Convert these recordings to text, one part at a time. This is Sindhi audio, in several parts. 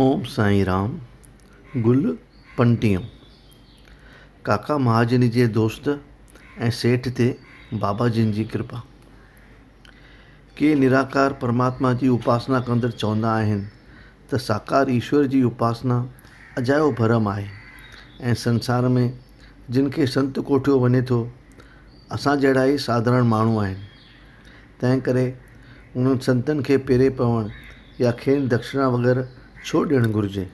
اوم سائين رام گل پنٽيو ڪاڪا مهاجن جي دوست ۽ سيٺ تي بابا جن جي ڪرپا ڪي نراڪار پرماتما جي اپاسنا ڪندڙ چوندا آهن ته ساڪار ايشور جي اپاسنا اجايو ڀرم آهي ۽ سنسار ۾ جن کي سنت ڪوٺيو وڃي ٿو اسان جهڙا ئي ساڌارڻ ماڻهو آهن تنهنڪري انهن سنتن کي پيري پوڻ يا کين دڪشنا وغيره ڇو ڏيڻ گهرجي؟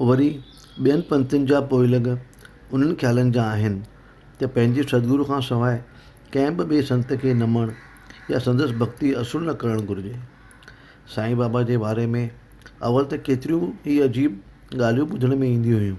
وري ٻين پنٿين جا پوئلڳ انهن خيالن جا آهن ته پنهنجي سدگرو کان سواء ڪنهن به ٻئي سنت کي نه مڃڻ يا سندس ڀڳتي اصول نه ڪرڻ گهرجي. سائين بابا جي باري ۾ اول ته ڪيتريون ئي عجيب ڳالهيون ٻڌڻ ۾ اينديون هيون.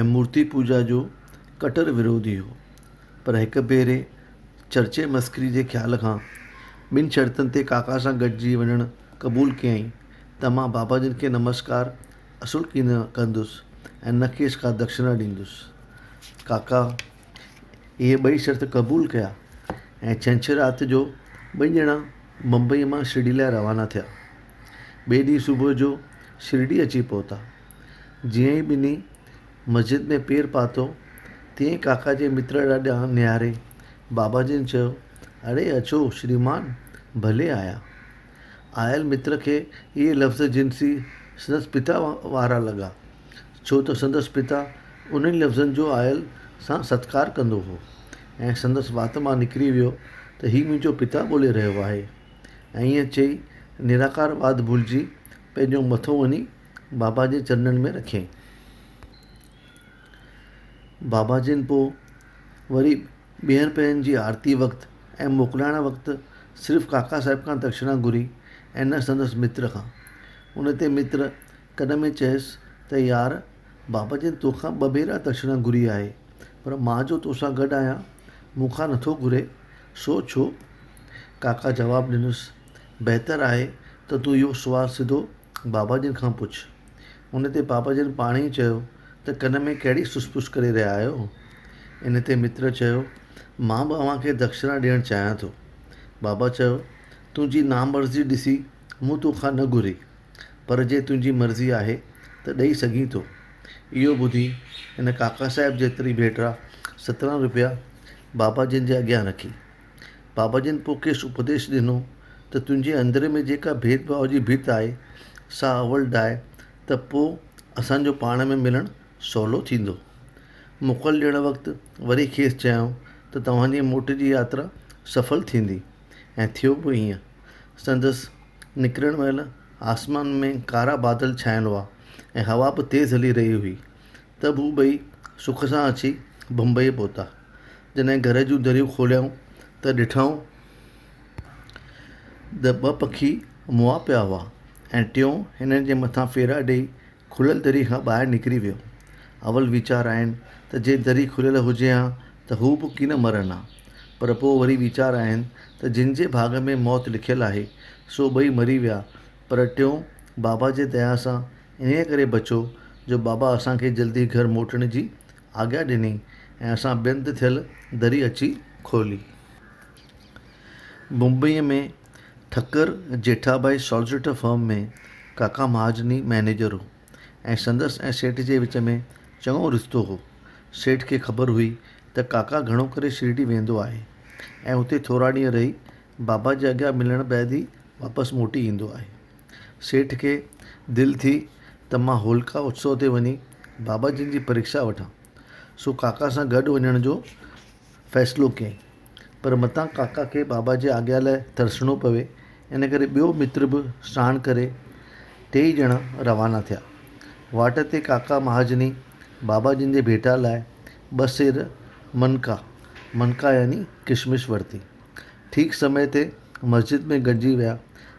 ۽ مورتي پوڄا جو ڪٽر وروڌي هو، پر هڪ ڀيري چرچي مسخري جي خيال کان ٻن شرطن تي ڪاڪا سان گڏجي وڃڻ قبول ڪيائين ته مان بابا جن کي نمسڪار اصل ڪي نه ڪندس ۽ نه کيس ڪا دکشنا ڏيندس. ڪاڪا اهي ٻئي شرط قبول ڪيا ۽ ڇنڇر رات جو ٻئي ڄڻا بمبئيء مان شرڊي لاء روانا ٿيا. ٻئي ڏينهن صبح جو شرڊي اچي پهتا. جيئن ئي ٻنهي مسجد ۾ پير پاتو، تيئن ئي ڪاڪا جي متر ڏانهن نهاري، بابا جن چيو، اڙي اچو شريمان، ڀلي آيا. آيل متر کي اهي لفظ جنسي سندس پتا وارا لڳا، ڇو ته سندس پتا انهن لفظن جو آيل سان ستڪار ڪندو هو ۽ سندس وات مان نڪري ويو ته هي منهنجو پتا ٻولي رهيو آهي. ائين چئي نراڪار واد ڀلجي پنهنجو مٿو وڃي بابا جي چرنن ۾ رکين. بابا جن پوء وري ٻيهر پهرين جي آرتيء وقت ۽ موڪلائڻ وقت صرف ڪاڪا صاحب کان دڪشنا گهري ۽ نه سندس متر کان. ان تي متر ڪن ۾ چيس ته يار، بابا جن توکان ٻه ڀيرا دڪشنا گهري آهي، پر مان جو توسان گڏ آهيان، مون کان نٿو گهري، سو ڇو؟ ڪاڪا جواب ڏنس، بهتر آهي ته تون اهو سوال سڌو بابا جن کان پڇ. ان تي بابا جن پاڻ ئي چيو ته ڪن ۾ ڪهڙي سس پس ڪري رهيا آهيو؟ ان تي متر چيو، مان به اوهان کي دکشنا ڏيڻ چاهيان ٿو. بابا چيو، تنهنجي نامرضي ڏسي مون تو کان نه گهري، پر جي تنهنجي مرضي آهي ته ڏئي سگهين ٿو. اهو ٻڌي هن ڪاڪا صاحب جيتري ڀيٽرا سترهن روپيا بابا جن جي اڳيان رکي. بابا جن پوء کيس اپديش ڏنو ته تنهنجي اندر ۾ جيڪا ڀيد ڀاو جي ڀت آهي سا اول ڊاهه ته پوء اسان جو پاڻ ۾ ملڻ سولو ٿيندو. موڪل ڏيڻ وقت وري کيس چيائون ته توهان جي موٽ جي ياترا سڦل ٿيندي ۽ ٿيو به ائين. سندس نڪرڻ مهل آسمان ۾ ڪارا بادل ڇانيل هئا ۽ هوا به تيز هلي رهي هئي ته به هو ٻئي سک سان اچي بمبئيء پهتا. جڏهن گهر جون دريون کوليائون ته ڏٺائون ته ٻه پکي مئا پيا هئا ۽ ٽيون هنن جي مٿان ڦيرا ڏيئي کليل دري کان ٻاهر نڪري ويو. اول ويچار آين ته جي دري کليل هجي ها ته هو به ڪين مرن ها. پر پوء وري ويچار آين ته جن جي ڀاڳ ۾ موت لکيل آهي سو ٻئي مري ويا پر ٽيون بابا جي ديا سان انهيء ڪري بچو جو بابا اسان کي جلدي گهر موٽڻ جي آگيا ڏني ۽ اسان ٻين تي ٿيل دري اچي کولي. بمبئيء ۾ ٺڪر جيٺاڀائي سالسيٽر فرم ۾ ڪاڪا مهاجني مئنيجر هو ۽ سندس ۽ سيٺ جي وچ ۾ چڱو رشتو هو. سيٺ کي خبر هئي ته ڪاڪا گهڻو ڪري شرڊي ويندو آهي ۽ اتي ٿورا ڏينهن رهي بابا جي اڳيان ملڻ بعد ئي واپس موٽي ايندو آهي. سيٺ کي دل ٿي ته مان هولڪا اتسو تي وڃي بابا جن جي پريڪشا وٺان. سو ڪاڪا سان گڏ وڃڻ جو فيصلو ڪيائين. پر متان ڪاڪا کي بابا جي آڳيا لاء ترسڻو پوي ان ڪري ٻيو متر به ساڻ ڪري ٽيئي ڄڻا روانا ٿيا. واٽ تي ڪاڪا مهاجني بابا جن جي ڀيٽا لاء ٻه سير منڪا، منڪا يعني ڪشمش ورتي. ٺيڪ سمي تي مسجد ۾ گڏجي ويا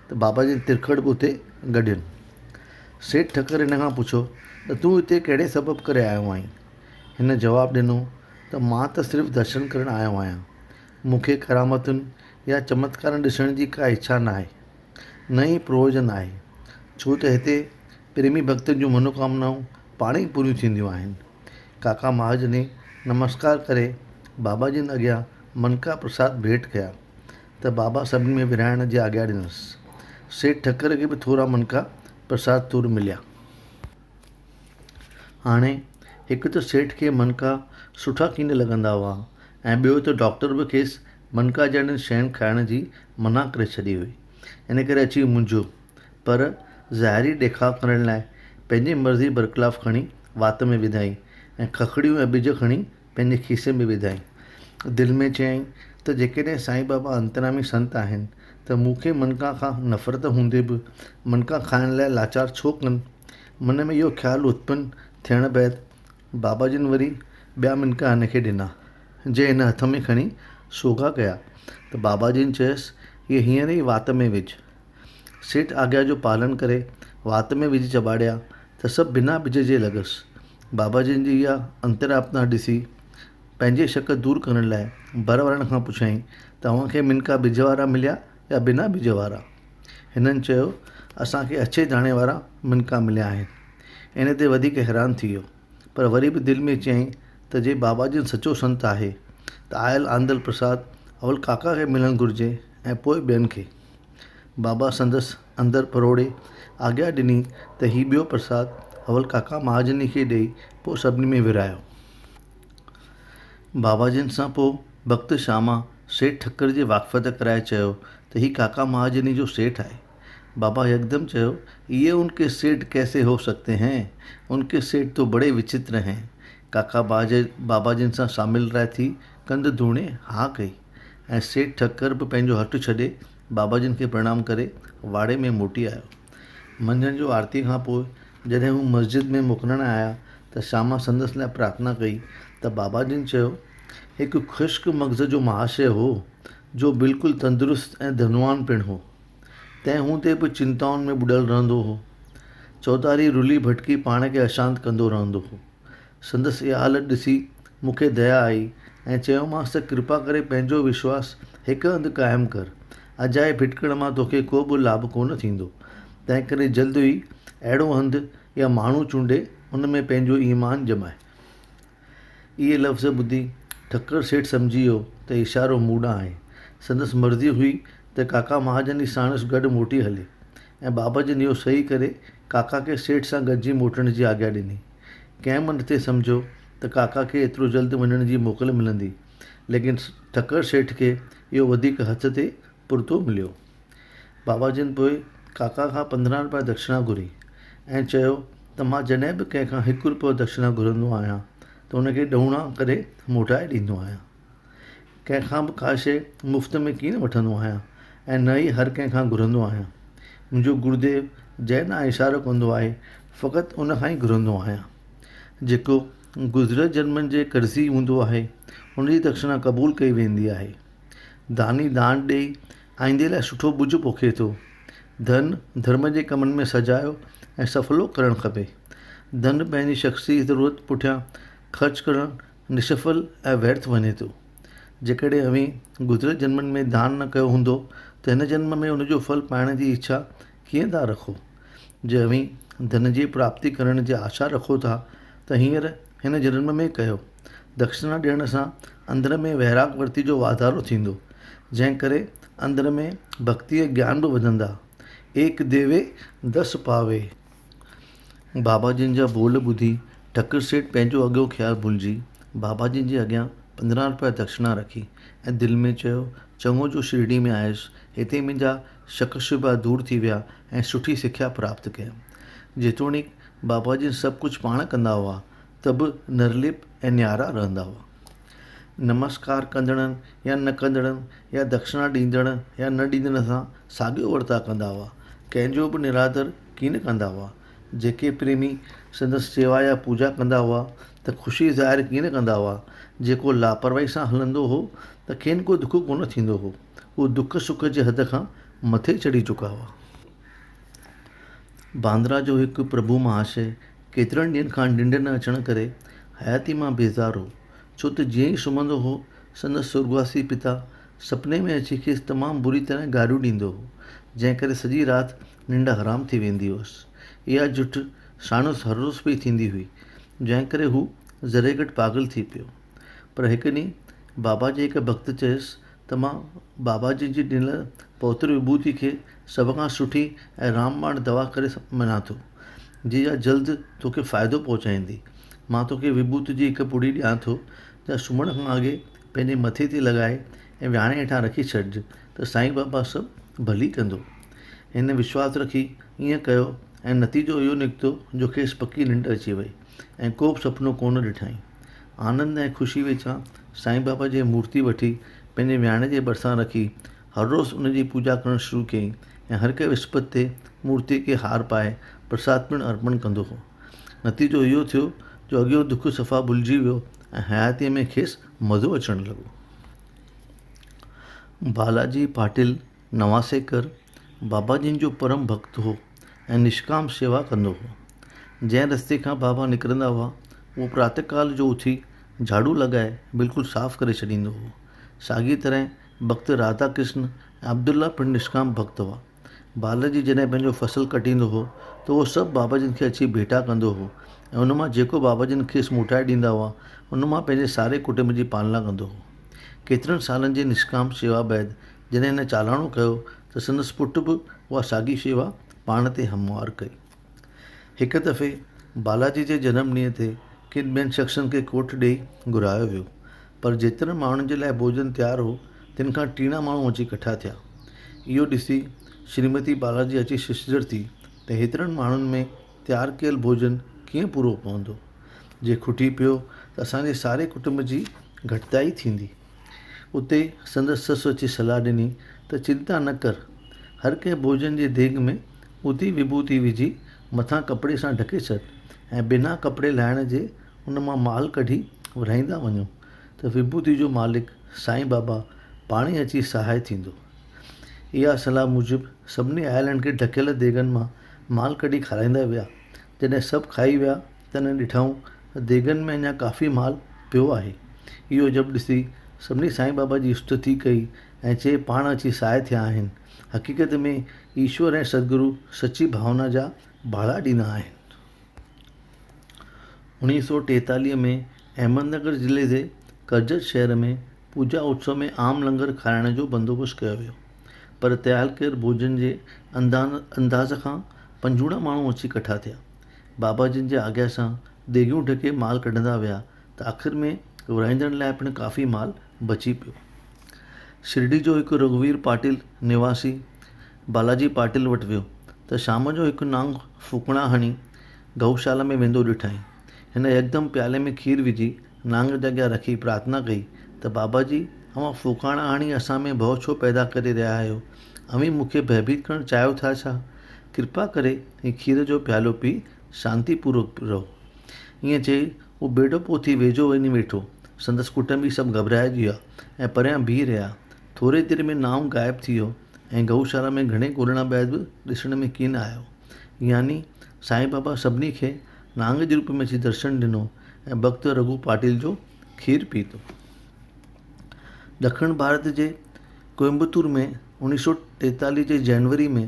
ته بابا جن ترکڙ به اتي گڏيل سيٺ ٺڪر هن کان پڇيو ته تون هتي ڪهڙي سبب ڪري آيو آهين هن جواب ڏنو ته مان ته صرف درشن ڪرڻ آيو آهيان مونکي ڪرامتن يا چمتڪارن ڏسڻ جي ڪا اڇا نه آهي نه ئي پروجن آهي ڇو ته هتي پريمي ڀڳتن جون منوڪامنائون پاڻ ئي پوريون ٿينديون آهن ڪاڪا مهاجني نمسڪار ڪري بابا جن اڳيان مڻڪا پرساد ڀيٽ ڪيا ته بابا سڀني ۾ ورهائڻ جي آگيا ڏنس. سيٺ ٺڪر کي به ٿورا منڪا پرساد تور مليا. هاڻي هڪ ته سيٺ کي منڪا سٺا ڪين لڳندا هئا ۽ ٻيو ته ڊاڪٽر به کيس منڪا جهڙين شين کائڻ جي منع ڪري ڇڏي هئي. ان ڪري اچي مونجهيو، پر ظاهري ڏيکاء ڪرڻ لاء پنهنجي مرضي برخلاف کڻي وات ۾ وڌائين ۽ ککڙيون ۽ ٻج کڻي پنهنجي کيسي ۾ وڌائين. دل ۾ چيائين ته جيڪڏهن سائين بابا انترامي سنت آهن ته مون کي منڪان کان نفرت هوندي به منڪان کائڻ لاء لاچار ڇو ڪن؟ من ۾ اهو خيال اتپن ٿيڻ بعد بابا جن وري ٻيا منڪا هن کي ڏنا، جي هن هٿ ۾ کڻي سوگها ڪيا ته بابا جن چيس، اهي هينئر ئي وات ۾ وجهه. سيٺ آگيا جو پالڻ ڪري وات ۾ وجهي چٻاڙيا ته سڀ بنا ٻج جي لڳس. بابا جن جي اها انتراپنا ڏسي پنهنجي شڪ دور ڪرڻ لاء ڀر وارن کان پڇيائين ته اوهان کي منڪا ٻج وارا مليا يا بنا ٻج وارا؟ هنن چيو اسان کي اڇي داڻي وارا منڪا مليا آهن. ان تي وڌيڪ حيران ٿي ويو پر وري به دل ۾ چيائين ته جي بابا جن سچو سنت آهي ته آيل آندل پرساد اول ڪاڪا کي ملڻ گهرجي ۽ پوء ٻين کي. بابا سندس اندر پروڙي آگيا ڏني ته هي ٻيو پرساد اول ڪاڪا مهاجن کي ڏئي پوء سڀني ۾ ورهايو. بابا جن سان پوء بخت شاما سيٺ ٺڪر جي واقفيت ڪرائي چيو ته هي ڪاڪا مهاجن جو سيٺ آهي. بابا يڪدم چيو، يي ان ڪي سيٺ ڪيسي هو سگتي هين، ان ڪي سيٺ تو بڙي وچتر هين. ڪاڪا بابا جن سان ساميل رائي ٿي ڪنڌ ڌوڻي ها ڪئي. ۽ سيٺ ٺڪر به پنهنجو هٽ ڇڏي بابا جن کي پرڻام ڪري واڙي ۾ موٽي آيو. منجهند جو آرتي کان پوء جڏهن هو مسجد ۾ موڪلڻ آيا ته شاما سندس لاء پرارٿنا ڪئي ته بابا جن چيو، هڪ خشڪ مغز جو مهاشيه هو، جو بلڪل تندرست ۽ ڌنوان پڻ هو. تنهن هوندي به چنتائن ۾ ٻڏل رهندو هو. چوڌاري رلي ڀٽڪي پاڻ کي اشانت ڪندو رهندو هو. سندس اها حالت ڏسي مون کي ديا آئي ۽ چيومانس ته ڪرپا ڪري پنهنجو وشواس هڪ هنڌ قائم ڪر. اجائي ڀٽڪڻ مان توکي ڪو به لاڀ ڪونه ٿيندو. تنهنڪري جلد ئي اهڙو هنڌ يا ماڻهو چونڊي ان ۾ پنهنجو ايمان ڄماء. اهي لفظ ٻڌي ٺڪر سيٺ سمجهي ويو ته اشارو مون ڏانهن آهي. سندس مرضي هئي ته ڪاڪا مهاجن ئي ساڻس گڏ موٽي هلي ۽ بابا جن اهو صحيح ڪري ڪاڪا کي سيٺ سان گڏجي موٽڻ جي آگيا ڏني. ڪنهن به نٿي سمجهيو ته ڪاڪا کي ايترو جلد وڃڻ جي موڪل ملندي، ليڪن ٺڪر سيٺ کي اهو وڌيڪ هٿ تي پرتو مليو. بابا جن پوء ڪاڪا کان پندرهن رپيا دڪشنا گهري ۽ چيو ته مان جڏهن به ڪنهن کان هڪ رپيو دڪشنا گهرندو آهيان ته ان کي ڏهوڻا ڪري موٽائي ڏيندو آهيان. ڪنهن کان به ڪا شيء مفت ۾ ڪين وٺندو آهيان ۽ نه ئي هر ڪنهن کان گهرندو آهيان. منهنجو گروديو جنهن ڏانهن اشارو ڪندو آهي، فقط ان کان ئي گهرندو آهيان. جيڪو گذريل جنمن جي قرضي هوندو آهي، ان جي دکشنا قبول ڪئي ويندي آهي. داني دان ڏيئي آئيندي لاء سٺو ٻج پوکي ٿو. ڌن، ڌرم جي ڪمن ۾ سجايو ۽ سڦلو ڪرڻ کپي. ڌن پنهنجي شخصي ضرورت پٺيان خرچ ڪرڻ نشڦل ۽ ويرٿ وڃي ٿو جيڪڏهن اوهين گذريل جنمن ۾ دان نه ڪيو هوندو ته هن جنم ۾ ان جو ڦل پائڻ جي اڇا ڪيئن ٿا رکو جي اوهين ڌن جي پراپتي ڪرڻ جي آشا رکو ٿا ته هينئر هن جنم ۾ ڪيو دکشنا ڏيڻ سان اندر ۾ ويراڳ ورتي جو واڌارو ٿيندو جنهن ڪري اندر ۾ ڀڳتي ۽ گيان به وڌندا ايڪ ديوي دس پاوي. بابا جن جا ٻول ٻڌي ٺڪر سيٺ پنهنجو اڳيون خيال ڀلجي بابا جن جي اڳيان پندرهن روپيا دڪشنا رکي ۽ دل ۾ چيو چڱو جو شرڊي ۾ آيس هتي منهنجا شڪ شبها دور ٿي ويا ۽ سٺي سکيا پراپت ڪيم جيتوڻيڪ بابا جن سڀ ڪجهه پاڻ ڪندا هئا ته به نرليپ ۽ نيارا رهندا هئا. نمسڪار ڪندڙن يا نه ڪندڙن يا دکشنا ڏيندڙ يا نه ڏيندڙن سان ساڳيو ورتاء ڪندا هئا. ڪنهن جو به نرادر ڪين ڪندا هئا. جيڪي پريمي سندس سيوا يا پوڄا ڪندا هئا ته خوشي ظاهر ڪين ڪندا هئا. جيڪو لاپرواهي سان هلندو هو ته کين ڪو دک ڪونه ٿيندو هو. هو دک سک جي حد کان مٿي چڙهي چڪا هئا. باندرا جو هڪ پرڀو مهاشيه ڪيترن ڏينهن کان ننڊ نه اچڻ ڪري حياتيء مان بيزار هو، ڇو ته جيئن ئي سمهندو هو، سندس سرڳواسي پتا سپني ۾ اچي کيس تمام بري طرح گاريون ڏيندو هو، جنهن ڪري سڄي رات ننڊ حرام ٿي ويندي هئس. اها جٺ ساڻس هر روز پئي ٿيندي هئي، جنهن ڪري هو ذري گهٽ پاڳل ٿي پيو. پر هڪ ڏينهن بابا جي هڪ ڀڳت چيس ته مان بابا جي جي ڏنل پوتر وڀوتي کي سڀ کان سٺي ۽ رام باڻ دوا ڪري مڃان ٿو جي اھا جلد توکي فائدو پهچائيندي مان توکي وڀوت جي هڪ پڙي ڏيان ٿو جا سمھڻ کان اڳي پنھنجي مٿي تي لڳائي ۽ وياڻي هيٺان رکي ڇڏج ته سائين بابا سڀ ڀلي ڪندو هن وشواس رکي ايئن ڪيو ۽ نتيجو اهو نڪتو جو کيس پڪي ننڊ اچي وئي ۽ ڪوبه سپنو ڪونه ڏٺائين آنند ۽ خوشي وچان سائين بابا جي مورتي وٺي پنهنجي وياڻي جي ڀرسان رکي هر روز ان جي پوڄا ڪرڻ شروع ڪيائين ۽ هر ڪنهن وسپت تي مورتي کي هار پائي پرساد پڻ ارپڻ ڪندو هو. نتيجو اهو ٿيو جو اڳيون دک صفا ڀلجي ويو ۽ حياتيء ۾ کيس مزو اچڻ لڳو. بالاجي پاٽل نواسيڪر بابا جن جو پرم ڀڳت هو. ۽ نشڪام شيوا ڪندو هو. جنهن رستي کان بابا نڪرندا هئا، اهو پراتهه ڪال جو اٿي جهاڙو لڳائي بلڪل صاف ڪري ڇڏيندو هو. ساڳيء طرح ڀڳت راڌا ڪرشن ۽ عبدالله پڻ نشڪام ڀڳت هئا. بالجي جڏهن پنهنجو فصل ڪٽيندو هو ته اهو سڀ بابا جن کي اچي ڀيٽا ڪندو هو ۽ ان مان جيڪو بابا جن کيس موٽائي ڏيندا هئا، ان مان پنهنجي ساري ڪٽنب جي پالنا ڪندو هو. ڪيترن سالن جي نشڪام شيوا بعد جڏهن هن چالاڻو ڪيو ته سندس پٽ به اها ساڳي شيوا پاڻ تي هموار ڪئي. هڪ دفعي بالاجي جي جنم ڏينهن تي ڪن ٻين شخصن کي ڪوٺ ڏيئي گهرايو ويو، پر جيترن ماڻهن جي لاء ڀوڄن تيار هو، تن کان ٽيڻا ماڻهو اچي ڪٺا ٿيا. اهو ڏسي شريمتي بالاجي اچي ششدر ٿي ته هيترن ماڻهن ۾ تيار ڪيل ڀوڄن ڪيئن پورو پوندو؟ جي کٽي پيو ته اسان جي ساري ڪٽنب جي گهٽتائي ٿيندي. اتي سندس سس اچي صلاح ڏني ته چنتا نه ڪر، هر ڪنهن ڀوڄن جي ديڳ ۾ اڌي وڀوتي وجهي مٿان ڪپڙي سان ڍڪي ڇڏ ۽ بنا ڪپڙي لاهڻ جي ان مان مال ڪڍي ورهائيندا وڃو ته وڀوتي جو مالڪ سائين بابا پاڻ ئي اچي سهائي ٿيندو. اها صلاح موجب سڀني آيلن کي ڍڪيل ديڳن مان مال ڪڍي کارائيندا ويا. جڏهن سڀ کائي ويا تنهن ڏٺائون ته ديڳن ۾ اڃا ڪافي مال پيو آهي. اهو جب ڏسي سڀني سائين بابا جي استتي ڪئي ۽ چي پاڻ اچي سهائي ٿيا آهن. حقيقت ۾ ايشور ۽ سدگرو سچي ڀاونا جا ڀاڙا ڏيندا آهن. اوڻيهه سؤ ٽيتاليهه ۾ احمد نگر ضلعي جي ڪرجت شهر ۾ پوڄا اتسو ۾ عام لنگر کارائڻ جو بندوبست ڪيو ويو پر تيالڪير ڀوڄن جي انداز کان پنجوڻا ماڻهو اچي ڪٺا ٿيا. بابا جن جي آگيا سان ديڳيون ڍڪي مال ڪڍندا ويا ته آخر ۾ ورهائيندڙن لاء پڻ ڪافي مال بچي پيو. شرڊي جو هڪ رگهوير پاٽيل نواسي بالاجي پاٽيل وٽ ويو ته شام جو هڪ نانگ ڦوڪڻا هڻي گئوشالا ۾ ويندو ڏٺائين. هن يڪدم پيالي ۾ کير وجهي نانگ جي اڳيان رکي پرارٿنا ڪئي ته بابا جي اوهان ڦوڪاڻا هڻي اسان ۾ ڀؤ ڇو پيدا ڪري رهيا آهيو اوهين مون کي ڀئڀيت ڪرڻ چاهيو ٿا ڇا؟ ڪرپا ڪري هي کير جو پيالو پي شانتي پورڪ رهو. ائين چئي هو ٻيڙو پوٿي ويجهو وڃي ويٺو. سندس ڪٽنبي سڀ گهٻرائجي ويا ۽ پريان بيهي رهيا. ٿوري دير ۾ نائون غائب ٿي ويو ۽ گئوشالا ۾ گهڻي ڳولڻ بعد به ڏسڻ ۾ ڪين آيو. يعني سائين بابا سڀني کي نانگ جي روپ ۾ اچي درشن ڏنو ۽ ڀڳت رگهو پاٽيل جو کير پيتو. ڏکڻ ڀارت جي ڪوئمبتور ۾ اوڻيھ سؤ ٽيتاليھ جي جنوري ۾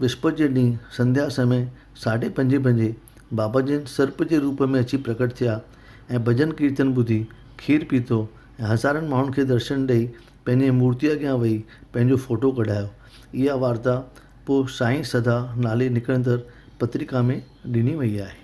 وسپت جي ڏينهن سنڌيا سمي ساڍي پنجي بجي بابا جن سرپ جي روپ ۾ اچي پرڪٽ ٿيا ۽ ڀڄن ڪيرتن ٻڌي کير پيتو ۽ هزارن ماڻهن کي درشن ڏئي پنهنجي مورتي اڳيان ويهي پنهنجو فوٽو ڪڍايو اها وارتا پوء سائين سڌا نالي نڪرندڙ پترڪا ۾ ڏني وئي آهي